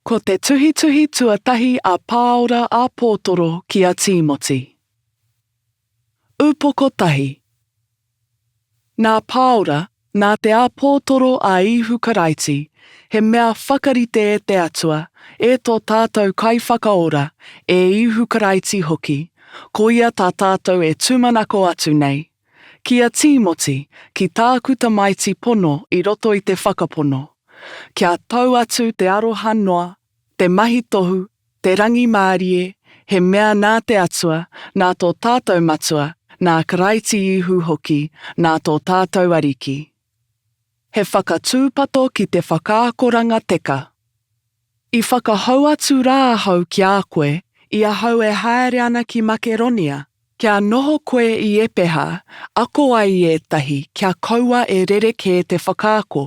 Ko te tuhituhi tuatahi a Pāora a Pōtoro ki a Tīmoti. Upoko tahi. Nā Pāora, nā te āpōtoro a Īhu Karaiti, he mea whakarite e te Atua, e tō tātou Kaiwhakaora, e Īhu Karaiti hoki, ko ia tā tātou e tūmanako atu nei, Ki a Tīmoti, ki tāku tamaiti pono i roto i te whakapono, kia tau atu te aroha noa, te mahi tohu, te rangimārie, he mea nā te Atua, nā tō tātou Matua, nā Karaiti Ihu hoki, nā tō tātou Ariki. He whakatūpato ki te whakaakoranga teka. I whakahou atu rā ahau ki a koe, i ahau e haere ana ki Makeronia, kia noho koe i Epeha, ako ai ētahi kia kaua e rerekē te whakaako,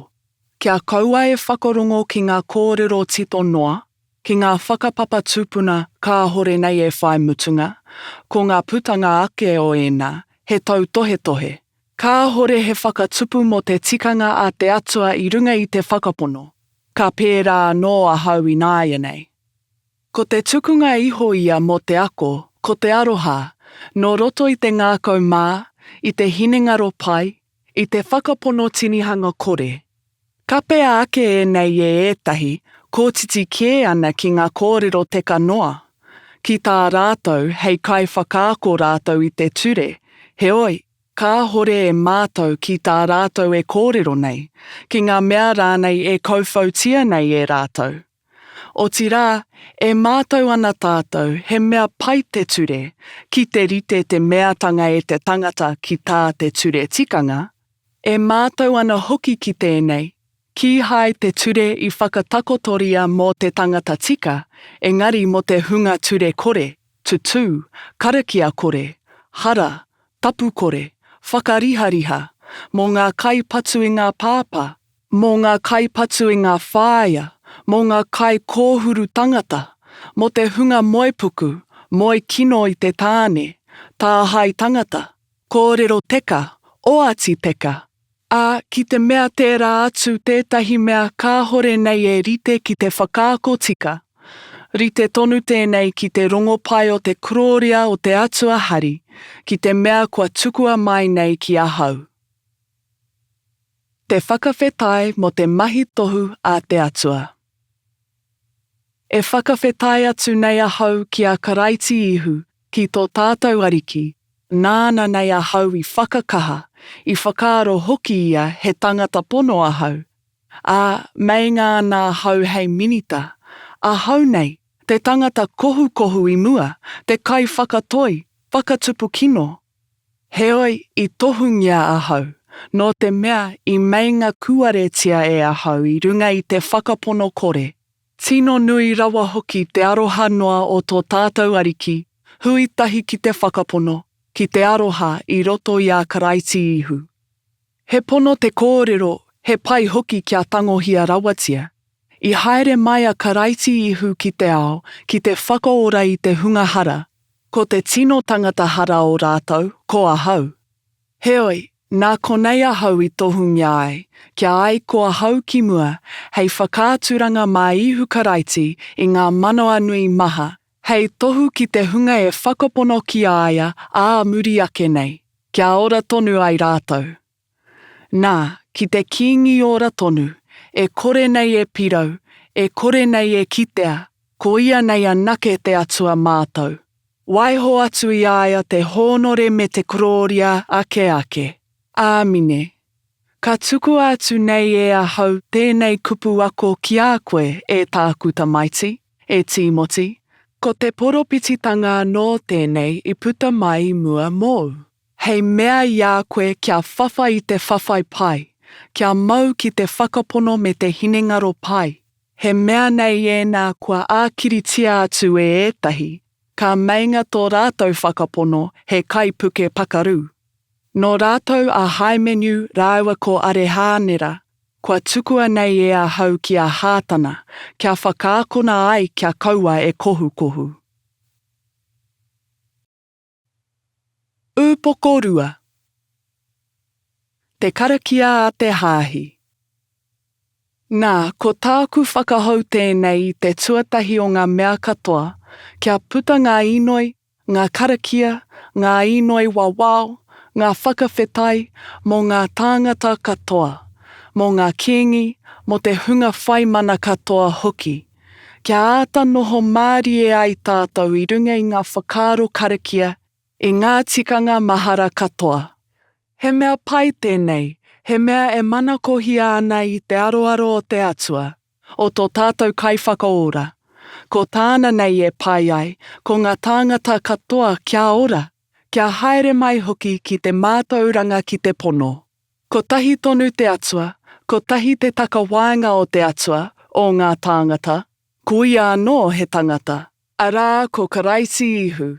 kia kaua e whakarongo ki ngā kōrero tito noa, ki ngā whakapapa tūpuna kāhore nei e whai mutunga, ko ngā putanga ake o ēnā, he tautohetohe, Kāhore he whakatupu mō te tikanga a te Atua i runga i te Whakapono, ka pērā anō ahau ināianei. Ko te tukunga iho ia mō te ako, ko te aroha, nō roto i te ngākau mā, i te hinengaro pai, i te whakapono tinihanga kore. Kapea ake ēnei e ētahi, kōtiti kē ana ki ngā kōrero teka noa. Ki tā rātou, hei kaiwhakaako rātou i te ture, heoi, Kāhore e mātau ki tā rātou e kōrero nei, ki ngā mea rānei e kauwhautia nei e rātou. Otirā, e mātau ana tātou he mea pai te ture, ki te rite te meatanga e te tangata ki tā te ture tikanga, e mātau ana hoki ki tēnei, Kīhai te ture i whakatakotoria mō te tangata tika, engari mō te hunga ture kore, tutū, karakia kore, hara, tapu kore, whakarihariha, mō ngā kai patu i ngā pāpā, mō ngā kai patu i ngā whāea, mō ngā kai kōhuru tangata, mō te hunga moe puku, moe kino i te tāne, tāhae tangata, kōrero teka, oati teka, ā, ki te mea tērā atu tētahi mea kāhore nei e rite ki te whakaako tika, rite tonu tēnei ki te rongopai o te korōria o te Atua Hari, ki te mea kua tukua mai nei ki ahau. Te whakawhetai mō te mahi tohu a te Atua. E whakawhetai atu nei ahau ki a Karaiti Ihu, ki tō tātou Ariki, Nāna nei ahau i whakakaha, i whakaaro hoki ia he tangata pono ahau, ā, meinga ana ahau hei minita, ahau nei, te tangata kohukohu i mua, te kaiwhakatoi, whakatupu kino, Heoi, i tohungia ahau, nō te mea i meinga kūaretia e ahau i runga i te whakapono kore, tino nui rawa hoki te aroha noa o tō tātou Ariki, hui tahi ki te whakapono, ki te aroha i roto i a Karaiti Ihu. He pono te kōrero, he pai hoki kia tangohia rawatia. I haere mai a Karaiti Ihu ki te ao ki te whakaora i te hunga hara, ko te tino tangata hara o rātou ko ahau. Heoi, nā konei ahau i tohungia ai, kia ai ko ahau ki mua, hei whakaaturanga mā Ihu Karaiti i ngā manawanui maha Hei tohu ki te hunga e whakapono ki a ia ā muri ake nei, kia ora tonu ai rātou. Nā, ki te kīngi ora tonu, e kore nei e pirau, e kore nei e kitea, ko ia nei anake te Atua mātou. Waiho atu i a ia te hōnore me te korōria ake ake. Āmine. Ka tukua atu nei e ahau tēnei kupu ako ki a koe, e tāku tamaiti. E Tīmoti, ko te poropititanga anō tēnei i puta mai i mua mōu, hei mea i a koe kia whawhai i te whawhai pai, kia mau ki te whakapono me te hinengaro pai, he mea nei ēnā kua ākiritia atu e ētahi, ka meinga tō rātou whakapono he kaipuke pakaru. Nō rātou a Haimeniu rāua ko Arehānera, Kua tukua nei e ahau ki a Hātana, kia whakaakona ai kia kaua e kohukohu. Ūpoko Rua Te karakia a te Hāhi Nā, ko tāku whakahou tēnei i te tuatahi o ngā mea katoa, kia puta ngā inoi, ngā karakia, ngā inoi wawao, ngā whakawhetai mō ngā tāngata katoa, mō ngā kīngi, mō te hunga whai mana katoa hoki, kia āta noho mārie ai tātou i runga i ngā whakaaro karakia, i ngā tikanga mahara katoa. He mea pai tēnei, he mea e manakohia ana i te aroaro o te Atua. o tō tātou Kaiwhakaora, ko Tāna nei e pai ai, ko ngā tāngata katoa kia ora, kia haere mai hoki ki te mātauranga ki te pono. Kotahi tonu te Atua, kotahi te takawaenga o te Atua, o ngā tāngata, ko ia anō he tangata, arā, ko Karaiti Ihu,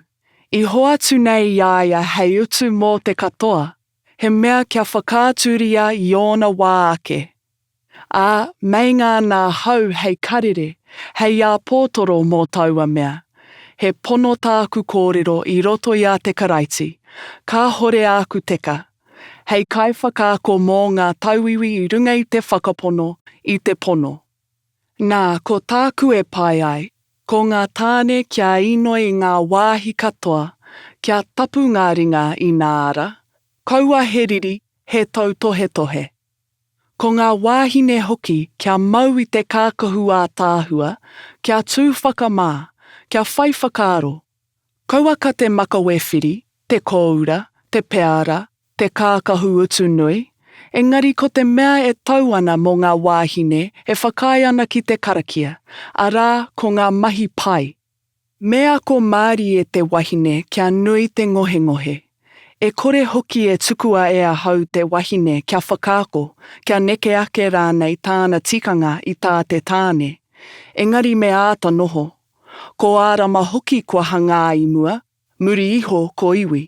i hoatu nei i a ia hei utu mō te katoa, he mea kia whakaaturia i ōna wā ake. Ā, meinga ana ahau hei karere, hei āpōtoro mō taua mea. He pono tāku kōrero i roto i a te Karaiti, kāhore āku teka. Hei kaiwhakaako mō ngā tauiwi i runga i te whakapono, i te pono. Nā, ko tāku e pai ai, ko ngā tāne kia inoi i ngā wāhi katoa, kia tapu ngā ringa inā ara, kaua he riri, he tautohetohe. Ko ngā wāhine hoki kia mau i te kākahu ātaahua, kia tū whakamā, kia whai whakaaro. Kauaka te makawe whiri, te kōura, te peara, te kākahu utu nui, engari ko te mea e tau ana mō ngā wāhine e whakaae ana ki te karakia, arā, ko ngā mahi pai. Me ako mārie te wahine kia nui te ngohengohe. E kore hoki e tukua e ahau te wahine kia whakaako, kia neke ake rānei tāna tikanga i tā te tāne. Engari me āta noho. Ko Ārama hoki kua hangā i mua, muri iho ko iwi.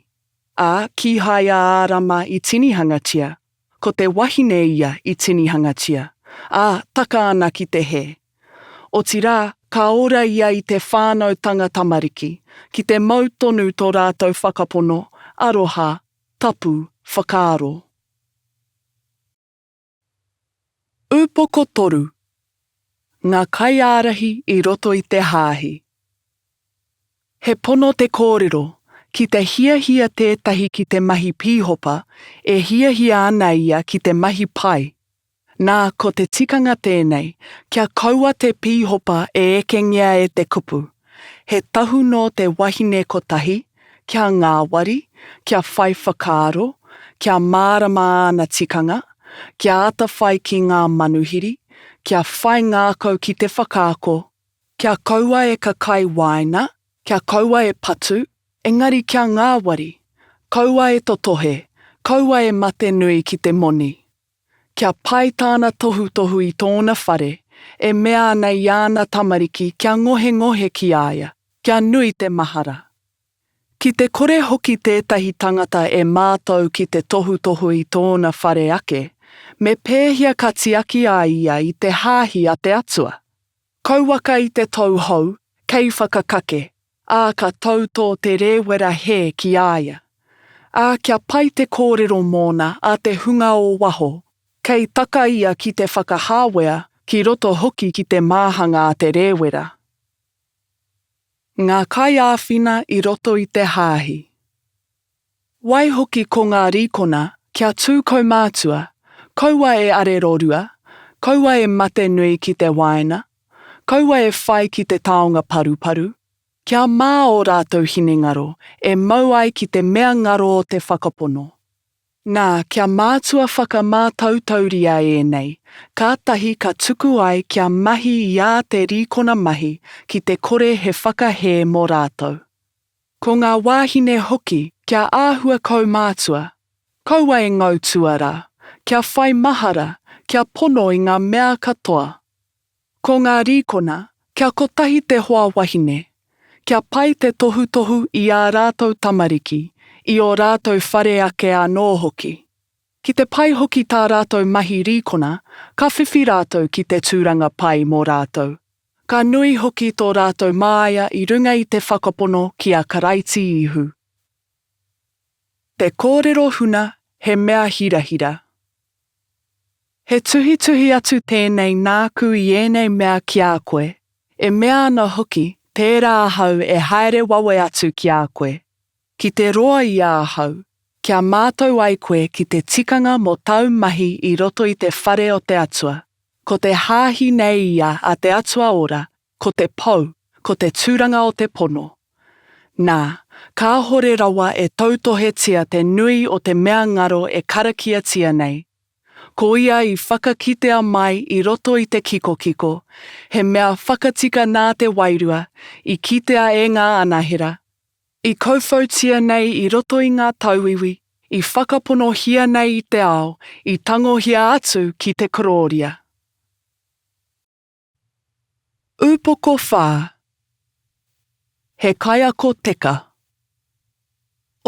Ā, kīhai a Ārama i tinihangatia. Ko te wahine ia i tinihangatia, ā, taka ana ki te hē. Otirā, ka ora ia i te whānautanga tamariki, ki te mau tonu tō rātou whakapono, aroha, tapu, whakaaro. Upoko 3. Ngā kaiārahi i roto i te Hāhi. He pono te kōrero, ki te hiahia tētahi ki te mahi pīhopa, e hiahia ana ia ki te mahi pai. Nā, ko te tikanga tēnei, kia kaua te pīhopa e ekengia e te kupu. He tahu nō te wahine kotahi, kia ngāwari, kia whai whakaaro, kia mārama āna tikanga, kia atawhai ki ngā manuhiri, kia whai ngākau ki te whakaako, Kia kaua e kakai wāina, kia kaua e patu, engari kia ngāwari, kaua e totohe, kaua e mate nui ki te moni. Kia pai tāna tohutohu i tōna whare, e mea ana i āna tamariki kia ngohengohe ki a ia, kia nui te mahara. Ki te kore hoki tētahi tangata e mātau ki te tohutohu i tōna whare ake, me pēhia ka tiaki a ia i te hāhi a te Atua? Kauaka i te tou hou, kei whakakake, ā, ka tau tō te rēwera hē ki a ia. Ā, kia pai te kōrero mōna a te hunga o waho, kei taka ia ki te whakahāwea ki roto hoki ki te māhanga a te rēwera. Ngā kaiāwhina i roto i te hāhi. Waihoki ko ngā rīkona kia tū kaumātua, kaua e arerorua, kaua e mate nui ki te wāina, kaua e whai ki te taonga paruparu, kia mā ō rātou hinengaro e mau ai ki te mea ngaro o te whakapono. Nā, kia mātua whakamātautauria ēnei, kātahi ka tuku ai kia mahi i ā te rīkona mahi ki te kore he whakahē mō rātou. Ko ngā wāhine hoki kia āhua kaumātua, kaua e ngau tua rā, kia whai mahara, kia pono i ngā mea katoa. Ko ngā rīkona, kia kotahi te hoa wahine, kia pai te tohutohu i ā rātou tamariki, i ō rātou whare ake anō hoki. Ki te pai hoki tā rātou mahi rīkona, ka whiwhi rātou ki te tūranga pai mō rātou. Ka nui hoki tō rātou māia i runga i te whakapono ki a Karaiti Ihu. Te kōrero huna he mea hirahira. He tuhituhi atu tēnei nāku i ēnei mea ki a koe, e mea ana hoki, tērā ahau e haere wawe atu ki a koe. Ki te roa i a ahau, kia mātau ai koe ki te tikanga mō tāu mahi i roto i te whare o te Atua. Ko te hāhi nei ia a te Atua Ora, ko te pou, ko te tūranga o te pono. Nā, kāhore rawa e tautohetia te nui o te mea ngaro e karakiatia nei. Ko ia i whakakitea mai i roto i te kikokiko, he mea whakatika nā te Wairua, i kitea e ngā anahera, I kauwhautia nei i roto i ngā tauiwi, i whakaponohia nei i te ao, i tangohia atu ki te korōria. Upoko whā, he kaiako teka.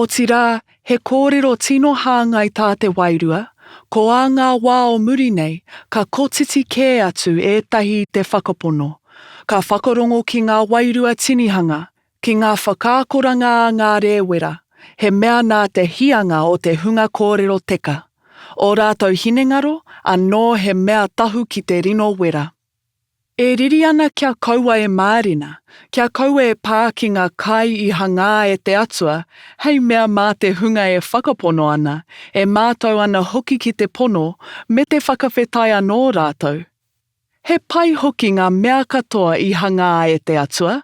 Otirā, he kōrero tino hāngai tā te wairua, ko ā ngā wā o muri nei, ka kotiti kē atu ētahi i te whakapono, ka whakarongo ki ngā wairua tinihanga, Ki ngā whakaakoranga a ngā rēwera, he mea nā te hianga o te hunga kōrero teka, ō rātou hinengaro, anō he mea tahu ki te rino wera. E riri ana kia kaua e mārena, kia kaua e pā ki ngā kai i hangā e te Atua, hei mea mā te hunga e whakapono ana, e mātau ana hoki ki te pono, me te whakawhetai anō rātou. He pai hoki ngā mea katoa i hangā e te Atua.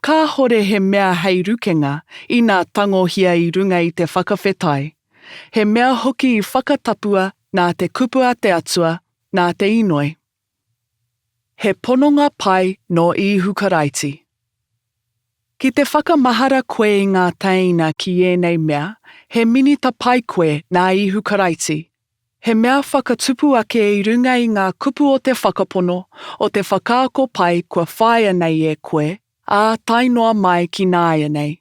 Kāhore he mea hei rukenga, inā tangohia i runga i te whakawhetai. He mea hoki i whakatapua nā te kupu a te Atua, nā te inoi. He pononga pai nō Īhu Karaiti. Ki te whakamahara koe i ngā tēina ki ēnei mea, he minita pai koe nā Īhu Karaiti. He mea whakatupu ake i runga i ngā kupu o te whakapono, o te whakaako pai kua whāia nei e koe, ā, tae noa mai ki nāianei.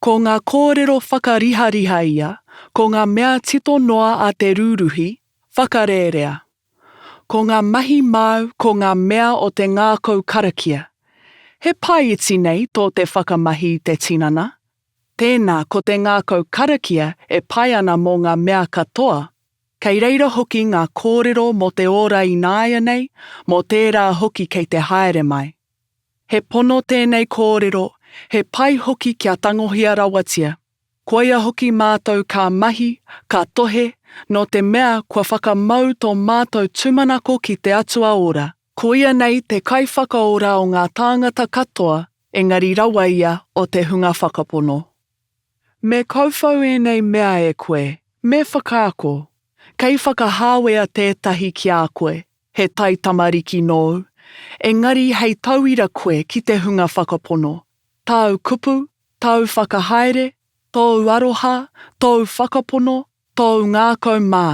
Ko ngā kōrero whakarihariha ia, ko ngā mea tito noa a te rūruhi, whakarērea. Ko ngā mahi māu ko ngā mea o te ngākau karakia. He pae iti nei tō te whakamahi i te tinana, Tēnā, ko te ngākau karakia e pai ana mō ngā mea katoa. Kei reira hoki ngā kōrero mō te ora ināianei, mō tērā hoki kei te haere mai. He pono tēnei kōrero, he pai hoki kia tangohia rawatia. Koia hoki mātou ka mahi, ka tohe, nō te mea kua whakamau tō mātou tūmanako ki te Atua Ora, Koia nei te kaiwhakaora o ngā tāngata katoa, engari rawa ia o te hunga whakapono. Me kauwhau ēnei mea e koe, me whakaako, kei whakahāwea tētahi ki a koe, he taitamariki nōu, engari hei tauira koe ki te hunga whakapono, tāu kupu, tāu whakahaere, tōu aroha, tōu whakapono, tōu ngākau mā,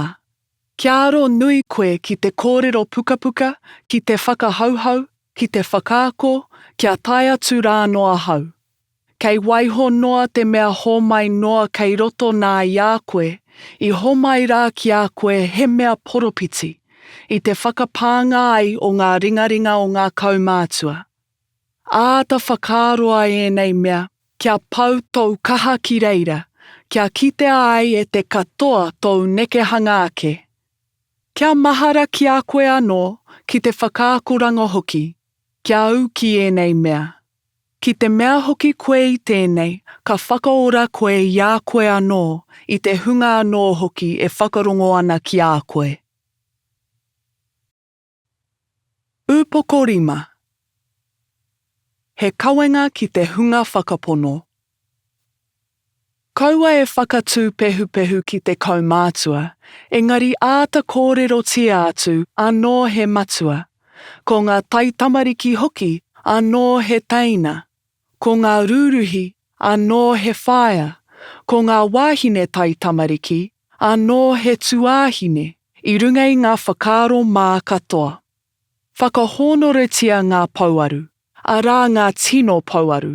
Kia aro nui koe ki te kōrero pukapuka, ki te whakahauhau, ki te whakaako, kia tae atu rā nō ahau. Kei waiho noa te mea hōmai noa kei roto nā i a koe, i homai rā ki a koe he mea poropiti, i te whakapānga ai o ngā ringaringa o ngā kaumātua. Āta whakaaro ai ēnei mea kia pau tōu kaha ki reira, kia kitea ai e te katoa tōu nekehanga ake. Kia mahara ki a koe anō, ki te whakaakoranga hoki, kia au ki ēnei mea. Ki te mea hoki koe i tēnei, ka whakaora koe i a koe anō, i te hunga anō hoki e whakarongo ana ki a koe. Upoko Rima He kawenga ki te hunga whakapono. Kaua e whakatū pehupehu ki te kaumātua, engari āta kōrerotia atu anō he matua, ko ngā taitamariki hoki anō he teina. Ko ngā rūruhi, anō he whaea, ko ngā wāhine taitamariki, anō he tuāhine, i runga i ngā whakaaro mā katoa. Whakahōnoretia ngā pouaru, arā ngā tino pouaru.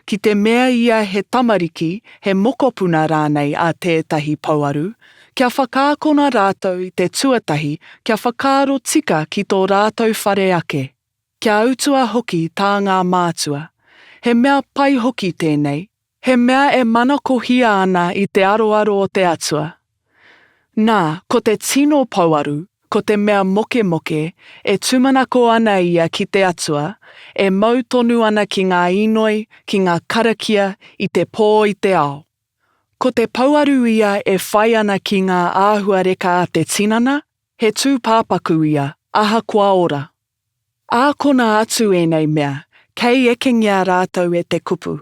Ki te mea ia he tamariki, he mokopuna rānei a tētahi pouaru, kia whakaakona rātou i te tuatahi kia whakaaro tika ki tō rātou whare ake. Kia utua hoki tā ngā mātua. He mea pai hoki tēnei. He mea e manakohia ana i te aroaro o te Atua. Nā, ko te tino pouaru, ko te mea mokemoke, e tūmanako ana ia ki te Atua, e mau tonu ana ki ngā inoi, ki ngā karakia i te pō i te ao. Ko te pouaru ia e whai ana ki ngā āhuareka a te tinana, He tūpāpaku ia, ahakoa ora. Ākona atu ēnei mea, kei ekengia rātou e te kupu.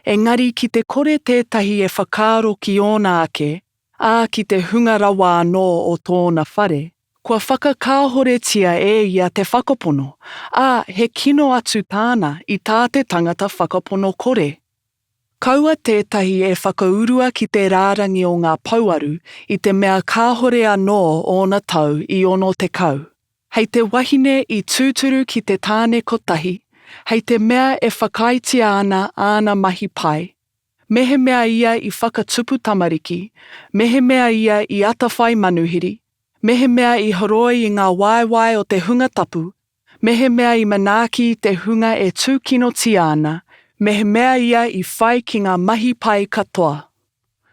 Engari ki te kore tētahi e whakaaro ki ōna ake, ā, ki te hunga rawa anō o tōna whare, kua whakakāhoretia e ia te whakapono, ā, he kino atu tāna i tā te tangata whakapono kore. Kaua tētahi e whakaurua ki te rārangi o ngā pouaru i te mea kāhore anō ōna tau i 60, hei te wahine i tūturu ki te tāne kotahi, hei te mea e whakaaetia ana āna mahi pai, mehemea ia i whakatupu tamariki, mehemea ia i atawhai manuhiri, mehemea i horoi i ngā waewae o te hunga tapu, Mehemea i manaaki i te hunga e tūkinotia ana, mehemea ia i whai ki ngā mahi pai katoa.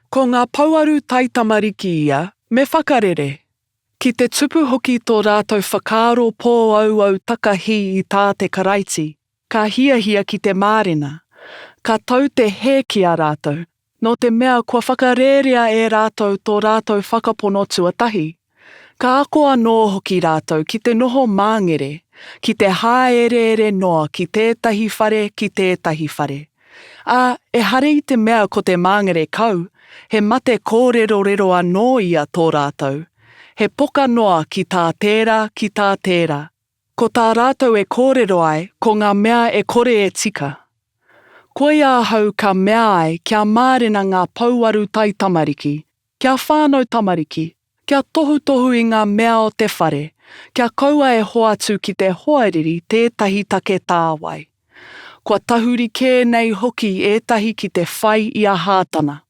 Ko ngā pouaru taitamariki ia, me whakarere. Ki te tupu hoki tō rātou whakaaro pōauau takahī i tā te Karaiti, ka hiahia ki te mārena. Ka tau te hē ki a rātou, Nō te mea kua whakarērea e rātou tō rātou whakapono tuatahi. Ka ako anō hoki rātou ki te noho māngere, ki te hāereere noa ki tētahi whare ki tētahi whare. Ā, ehara i te mea ko te māngere kau, he mate kōrerorero anō ia tō rātou, he poka noa ki tā tērā, ki tā tērā. Ko tā rātou e kōrero ai, ko ngā mea e kore e tika. Koia ahau ka mea ai kia mārena ngā pouaru taitamariki, kia whānau tamariki, kia tohutohu i ngā mea o te whare, kia kaua e hoatu ki te hoariri tētahi take tāwai. Kua tahuri kē nei hoki ētahi ki te whai i a Hātana.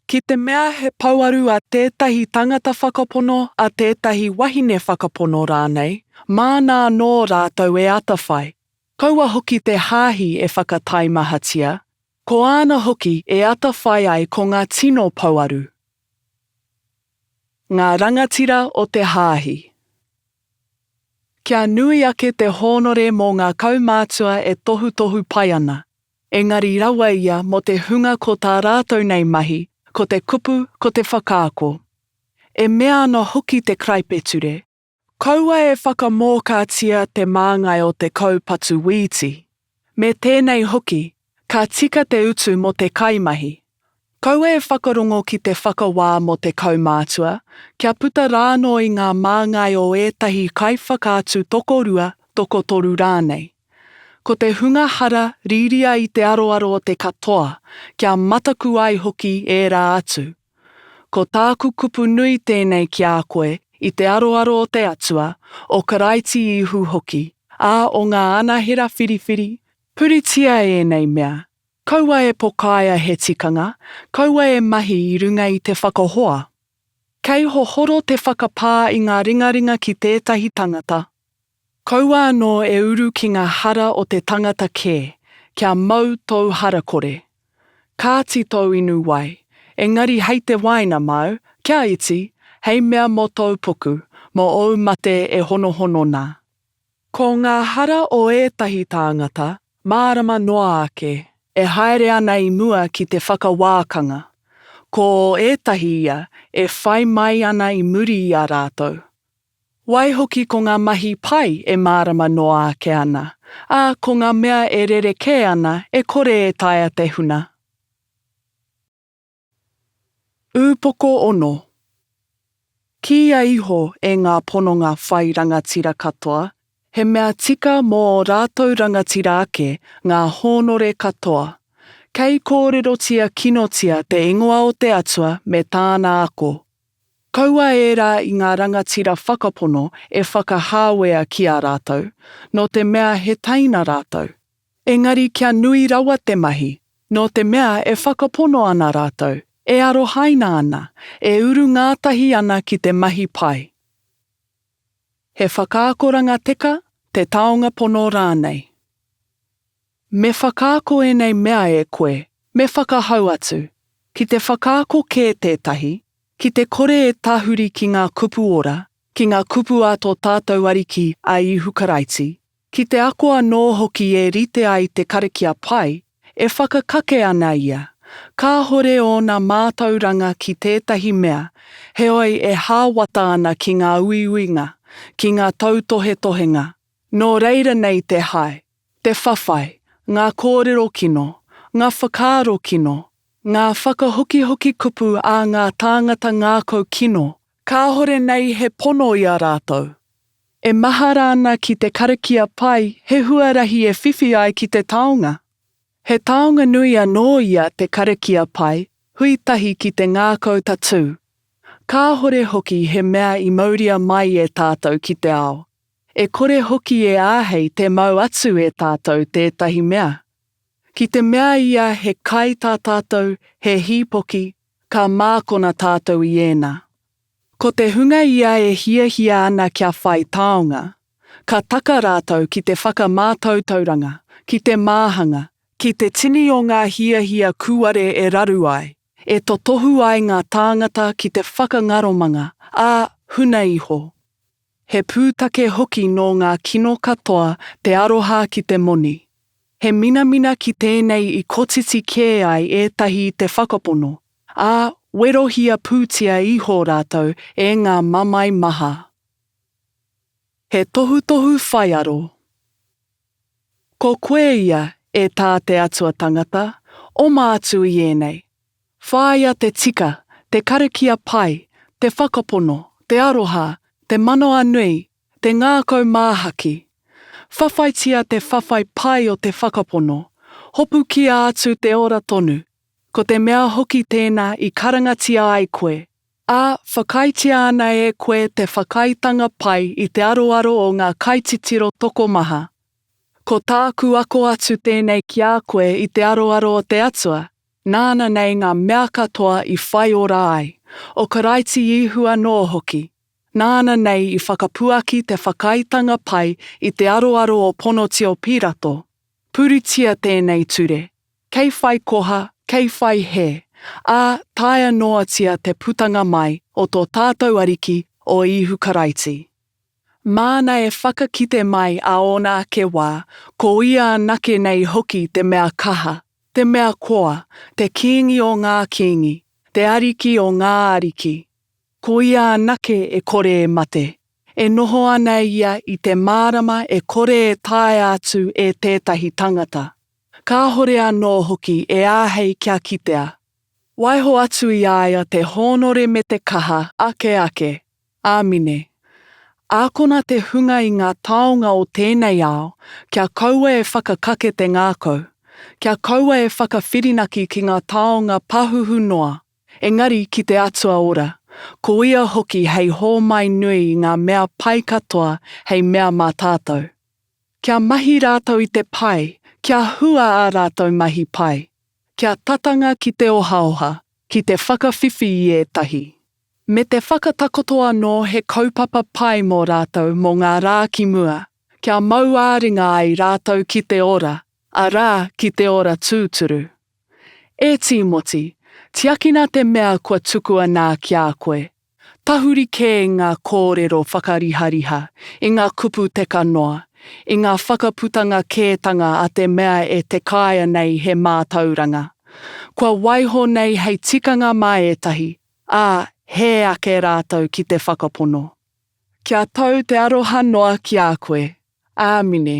Ki te mea he pouaru a tētahi tangata whakapono, a tētahi wahine whakapono rānei, māna anō rātou e atawhai. Kaua hoki te hāhi e whakataimahatia, ko āna hoki e atawhai ai ko ngā tino pouaru. Ngā rangatira o te hāhi. Kia nui ake te hōnore mō ngā kaumātua e tohutohu pai ana. Engari rawa ia mō te hunga ko tā rātou nei mahi, ko te kupu, ko te whakaako. E mea ana hoki te karaipeture. Kaua e whakamōkātia te māngai o te kaupatu wīti. Me tēnei hoki, ka tika te utu mō te kaimahi, Kaua e whakarongo ki te whakawā mō te kaumātua, kia puta rānō i ngā māngai o ētahi kaiwhakaatu tokorua, tokotoru rānei. Ko te hunga hara rīria i te aroaro o te katoa, kia mataku ai hoki ērā atu. Ko tāku kupu nui tēnei ki a koe i te aroaro o te Atua, o Karaiti Īhu hoki, ā, o ngā anahera whiriwhiri, puritia ēnei mea, Kaua e pokaia he tikanga, kaua e mahi i runga i te whakahoa. Kei hohoro te whakapā i ngā ringaringa ki tētahi tangata. Kaua anō e uru ki ngā hara o te tangata kē, kia mau tōu harakore. Kāti tōu inu wai, engari hei te wāina māu, kia iti, hei mea mō tōu puku, mō ōu mate e honohono nā. Ko ngā hara o ētahi tāngata, mārama noa ake. E haere ana i mua ki te whakawākanga. Ko ētahi ia e whai mai ana i muri i a rātou. Waihoki ko ngā mahi pai e mārama noa ake ana, ā, ko ngā mea e rerekē ana e kore e taea te huna. Upoko Ono. Kīia iho e ngā pononga whai rangatira katoa, he mea tika mō ō rātou rangatira ake ngā hōnore katoa. Kei kōrerotia kinotia te ingoa o te Atua me Tāna ako. Kaua ērā i ngā rangatira whakapono e whakahāwea ki a rātou, nō te mea he teina rātou. Engari kia nui rawa te mahi, nō te mea e whakapono ana rātou, e arohaina ana, e uru ngātahi ana ki te mahi pai. He whakaakoranga teka, te taonga pono rānei. Me whakaako ēnei mea e koe, me whakahau atu, ki te whakaako kē tētahi, ki te kore e tahuri ki ngā kupu ora, ki ngā kupu a tō tātou Ariki a Ihu Karaiti, Ki te ako anō hoki e rite ai te karakia pai, e whakakake ana ia, kāhore ōna mātauranga ki tētahi mea, heoi e hāwata ana ki ngā uiuinga, ki ngā tautohetohenga. Nō reira nei te hae, te whawhai, ngā kōrero kino, ngā whakaaro kino, ngā whakahokihoki kupu a ngā tāngata ngākau kino, kāhore nei he pono i a rātou, E mahara ana ki te karakia pai he huarahi e whiwhi ai ki te taonga. He taonga nui anō ia te karakia pai, hui tahi ki te ngākau tatū. Kāhore hoki he mea i mauria mai e tātou ki te ao. E kore hoki e āhei tē mau atu e tātou tētahi mea. Ki te mea ia he kai tā tātou, he hīpoki, ka mākona tātou i ēnā. Ko te hunga ia e hiahia ana kia whai taonga, ka taka rātou ki te whakamātautauranga, ki te māhanga, ki te tini o ngā hiahia kūare e raru ai, e totohu ai ngā tāngata ki te whakangaromanga, ā, huna iho. He pūtake hoki nō ngā kino katoa te aroha ki te moni. He minamina ki tēnei i kotiti kē ai ētahi i te whakapono, ā, werohia pūtia iho rātou e ngā mamae maha. He tohutohu whaiaro. Ko koe ia, e tā te Atua Tangata, oma atu i ēnei, Whāia te tika, te karakia pai, te whakapono, te aroha, te manawa nui, te ngākau māhaki. Whawhaitia te whawhai pai o te whakapono, hopukia atu te ora tonu, ko te mea hoki tēnā i karangatia ai koe, ā, whakaaetia ana e koe te whakaaetanga pai i te aroaro o ngā kaititiro tokomaha. Ko tāku ako atu tēnei ki a koe i te aroaro o te Atua, Nāna nei ngā mea katoa i whai ora ai, o Karaiti Ihu anō hoki. Nāna nei i whakapuaki te whakaaetanga pai i te aroaro o Ponotio Pirato, Puritia tēnei ture, kei whai koha, kei whai hē, ā, taea noatia te putanga mai o tō tātou Ariki, o Ihu Karaiti. Māna e whakakite mai a ōna ake wā, ko ia anake nei hoki te mea kaha, te mea koa, te kīngi o ngā kīngi, te ariki o ngā ariki. Ko ia anake e kore e mate. E noho ana ia i te mārama e kore e taea atu e tētahi tangata. Kāhore anō hoki e āhei kia kitea, Waiho atu i a ia te hōnore me te kaha ake ake. Āmine. Ākona te hunga i ngā taonga o tēnei ao, kia kaua e whakakake te ngākau, kia kaua e whakawhirinaki ki ngā taonga pahuhu noa, engari ki te Atua Ora, ko ia hoki hei hōmai nui i ngā mea pai katoa hei mea mā tātou. Kia mahi rātou i te pai, kia hua ā rātou mahi pai. kia tatanga ki te ohaoha, ki te whakawhiwhi i ētahi, me te whakatakoto anō he kaupapa pai mō rātou mō ngā rā ki mua, kia mau ā-ringa ai rātou ki te ora, arā, ki te ora tūturu. E Tīmoti, tiakina te mea kua tukua nā ki a koe, Tahuri kē i ngā kōrero whakarihariha, i ngā kupu teka noa, i ngā whakaputanga kētanga a te mea e te kāea nei he mātauranga. Kua waiho nei hei tikanga mā ētahi, ā, hē ake rātou ki te whakapono. Kia tau te aroha noa ki a koe. Āmine.